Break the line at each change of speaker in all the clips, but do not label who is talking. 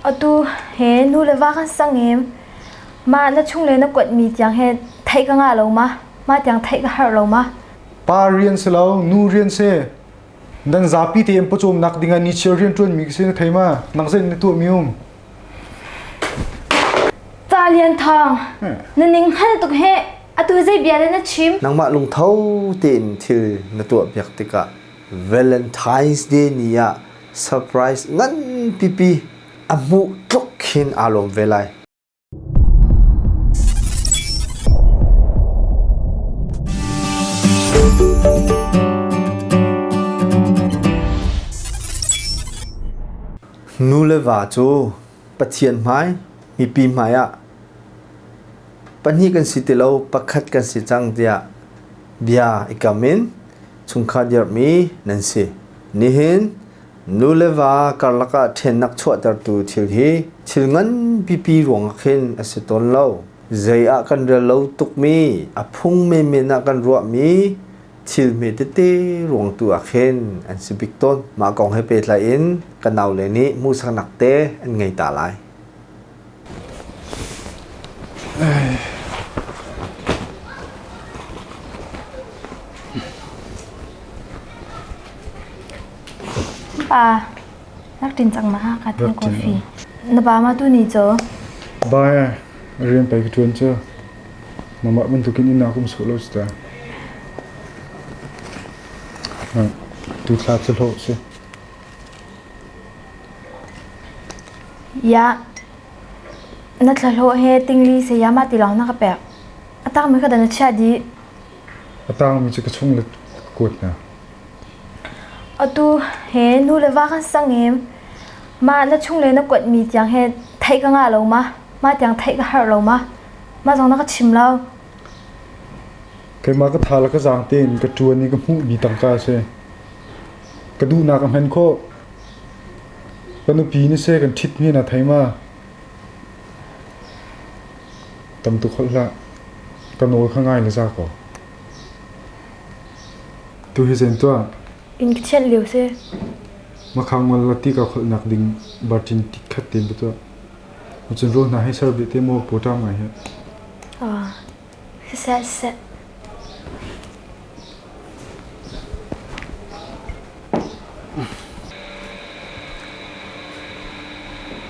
Atu he nu le va kan sang i mah na chung le na kuatmi tiang he theih ka ngah lo ma? Mah tiang theih ka harh lo ma? Pa rian si lo, nu rian si. Nan zapi tein pawcawm nak dingah nichiar rianṭuanmi ka si na thei ma? Nak zein na tuahmi um? Ca Lian Thang, na ning hngal tuk he atu zei bia le na chim? Nangmah lungtho tein thil na tuah piak tikah Valentine's Day ni ah Surprise nganpipi a hmuh tluk khin aa lawm ve lai. Nu le va cu Pathian hmai, mipi hmaiah pahnih kan si ti lo, pakhat kan si cang tiah bia i kam in chungkhar dirhmi nan si. Nihin nu le va karlak ah ṭhennak chuahtertu thil hi thil ngan pipi ruangah khin a si tawn lo. Zei ah kan rel lo tukmi, a phung menmen ah kan ruahmi, thil hme tete ruang tu ah khin an si bik tawn. Mah kong he pehtlai in ka nau le nih hmuhsaknak te an ngei ta lai. Pa, raktin cang ma ka tin coffee. Na pa ma tu ni cho? Ba rian pai ka tuan cho. Nangmah bantukin i nak um sawh law cu ta. Tu thla cu hlawh si. Ya. Na thlahlawh he tingli sayama ti lawng na ka pek. A tangmi ka da na chia di. A tangmi cu ka chung le kuat na. Atu he nu le va kan sang em. Ma na chung le na kuatmi tiang he theih ka nga lo ma. Ma tiang theih ka har lo ma. Mah zong na ka chim lo. Keimah ka tha le ka zaang tein ka ṭuan i ka hmuhmi tangka a si. Ka duhnak a hman khawh. Ka nupi na se kan ṭhit hi na thei ma? Tam tuk holh hlah. Ka nawl kha ngai na za kaw. Tu hi zen tuah. In ka thianh lio si. Makhang ngol la ti ka holhnak ding barcin tikhat te ba tuah. Cunzul hna hi ser dih te mu, pu ṭam ngai hi. Siseh siseh.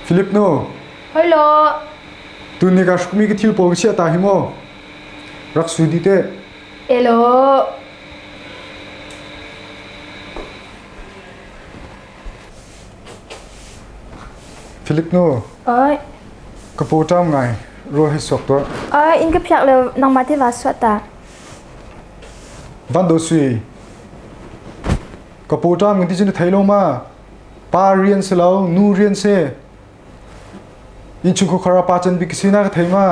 Philip nu. Hello. Tu ni ka hrukmi ka thil pawi sia ta hi mo. Rak sui di te. Hello. Philip nu. Oi. Ka pu ṭam ngai. Ruah hi suak tuah. Oi, in ka phiak le nangma te va suat ta. Van do sui. Ka pu ṭam ngan ti cun thei lo ma. Pa rian se lo, nu rian se. In chung khukhara pa chan bik se na ka thei ma.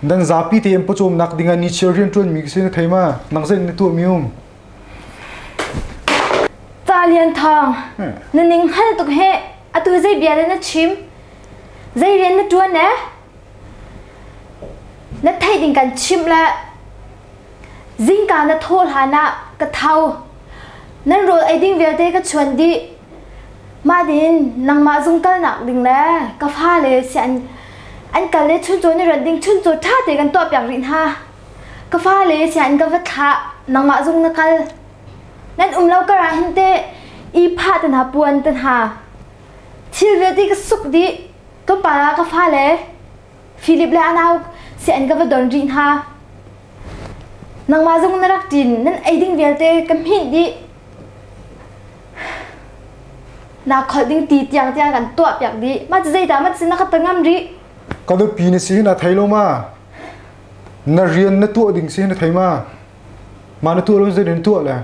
Dan zapi te em pawcom nak ding a ni chia rian ṭuan mi ka se na thei ma. Nang zan na tuah mi um. Ca Lian Thawng, na ning hngal tuk he atu zei bia le na chim? Zei rian na ṭuan e? Na theih ding kan chimh le zingka na thaw hlan ah ka tho. Nan rawl ei ding vialte ka chuan dih. Mah din nangmah zung kalnak ding le ka fa le si an an kal le chuncaw na rat ding chuncaw ṭha te kan tuah piak rih hna. Ka fale sian ka va thlah nangmah zung na kal nan um lo kar ah hin te i pha te hna puan te hna thil vialte ka suk dih ka pa ka fale Philip le anau sian ka va don rih hna nangmah zung na rak ṭin nan ei ding vialte ka hminh dih na kholh ding ti tiang tiang kan tuah piak dih ma cu zeidah ma cu na ka ta ngam rih ka nupi na si na thei lo ma Na rian na tuah ding si na thei ma? Mah na tuah lo zetin tuah le?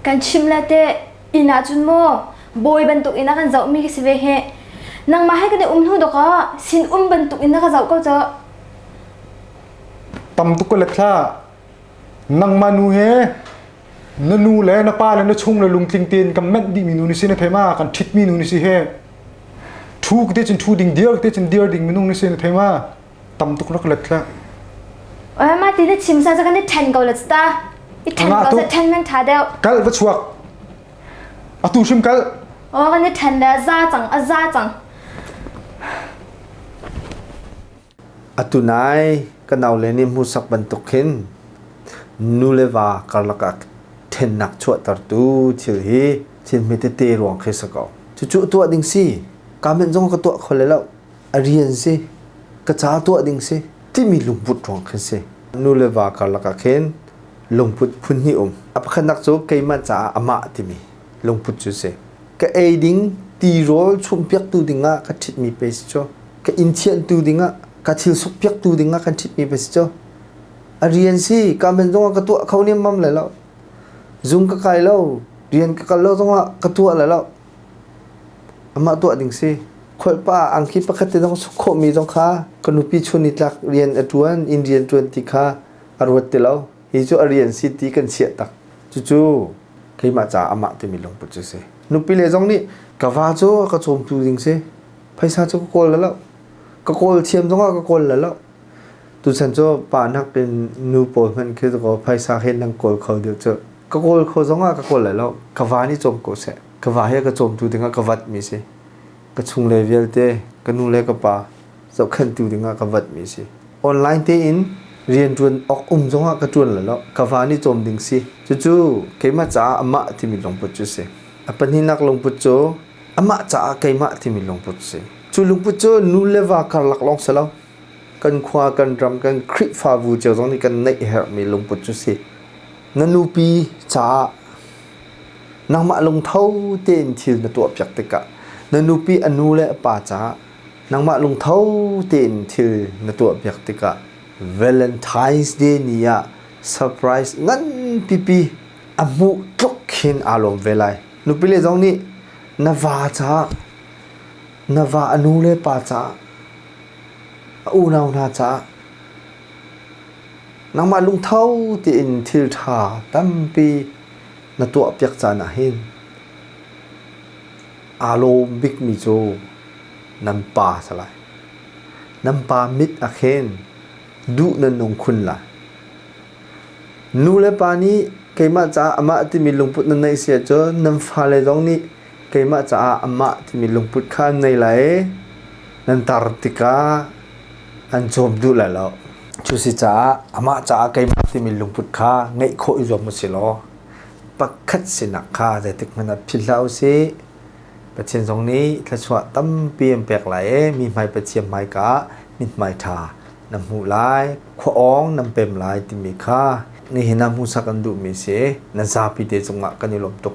Kan chim le te inn ah cun maw bawi bantuk in a kan zoh mi ka si ve he. Nangmah he kan i um hnu dok ah sin um bantuk in na ka zoh ko co. Tam tuk ka let hla. Nangmah nu he na nu le na pa le na chung le lungtling tein kan menh dih mi nu ni si na thei ma? Kan thit mi nu ni si he. Thu te cun thu ding dir te cun dir ding minung ni si na thei ma? tam tuk rak let la ma ti na chim san sa kan i then ko la sta i then ko sa then man tha deu kal va chuak atu shim kal o kan i then da za chang a za chang atu nai ka nau le ni mu sak bantuk khin nuleva karlaka thennak chuah tar tu thil hi thil me te te ruang khe sako chu chu tua ding si comment zong ka tua khole lo A rian si, ka ca tuah ding si timi lungput ruang khan si. Nu le va karlak ah khin lungput phun hnih um. A pakhatnak cu keimah caah amah timi lungput cu si. Ka ei ding ti rawl chumhpiaktu dingah ka ṭhitmi pe si cu. Ka inn thianhtu dingah ka thil sukpiaktu dingah kan ṭhitmi pe si cu. A rian si, ka men zongah ka tuah kho niammam le lo. Zung ka kai lo, rian ka kal lo zongah ka tuah le lo. Amah tuah ding si. Khualpa angki pakhat te zong suk khawhmi zong kha ka nupi chun i tlak rian a ṭuan, inn rian ṭuan ti kha a ruat ti lo. Hi cu a rian si ti kan chiah tak. Cucu keimah caah amah timi lungput cu si. Nupile zong nih ka va cu a ka cawmtu ding si. Phaisa cu ka kawl lo. Ka kawl thiam zongah ka kawl lo. Tuchan cu pa nakin nu pawl hmanh khi cu phaisa he nan kawl kho deuh cu. Ka kawl kho zong ah ka kawl lai lo. Ka va nih cawm ko seh. Ka va hi ka cawmtu dingah ka vat mi si. Ka chungle vialte, ka nu le ka pa zohkhenhtu dingah ka vat mi si. Online tein riantuan awk um zong ah ka tuan lai lo. Ka va nih cawm ding si. Cucu keimah caah amah timi lungput cu si. A pahnihnak lungput cu amah caah keimah timi lungput si. Cu lungput cu nu le va karlak lawng si lo. kan khua kan ram kan Khrihfabu cio zong nih kan neih herhmi lungput cu si. Na nupi caah nangmah lungtho tein thil na tuahpiak tikah na nupi a nu le a pa caah nangmah lungtho tein thil na tuahpiak tikah Valentine's Day ni ah surprise nganpipi a hmuh tluk khin aa lawm ve lai. Nupile zong nih na va caah na va a nu le pa caah A unau hna caah nangmah lungtho tein thilṭha tampi na tuahpiak caan ah hin aa lawm bikmi cu nan pa a si lai. Nan pa mit ah khin duh nan nung khun lai. Nu le pa nih keimah caah amah timi lungput nan neih si ahcun nan fale zong nih keimah caah amah timi lungput kha an nei lai i nan tar tikah an cawm duh lai lo cu si caah amah caah keimah timi lungput kha ngeih khawh i zuam usih law pakhat sinak kha zeitik hmanh ah philh hlah usih Pathian zong nih thluachuah tampi an pek lai i mi hmai Pathian hmaika ah mithmai ṭha na hmuh lai khuaawng nan pem lai timi kha nihin ah hmuhsak an duhmi si nan zapi te cungah kan i lawm tuk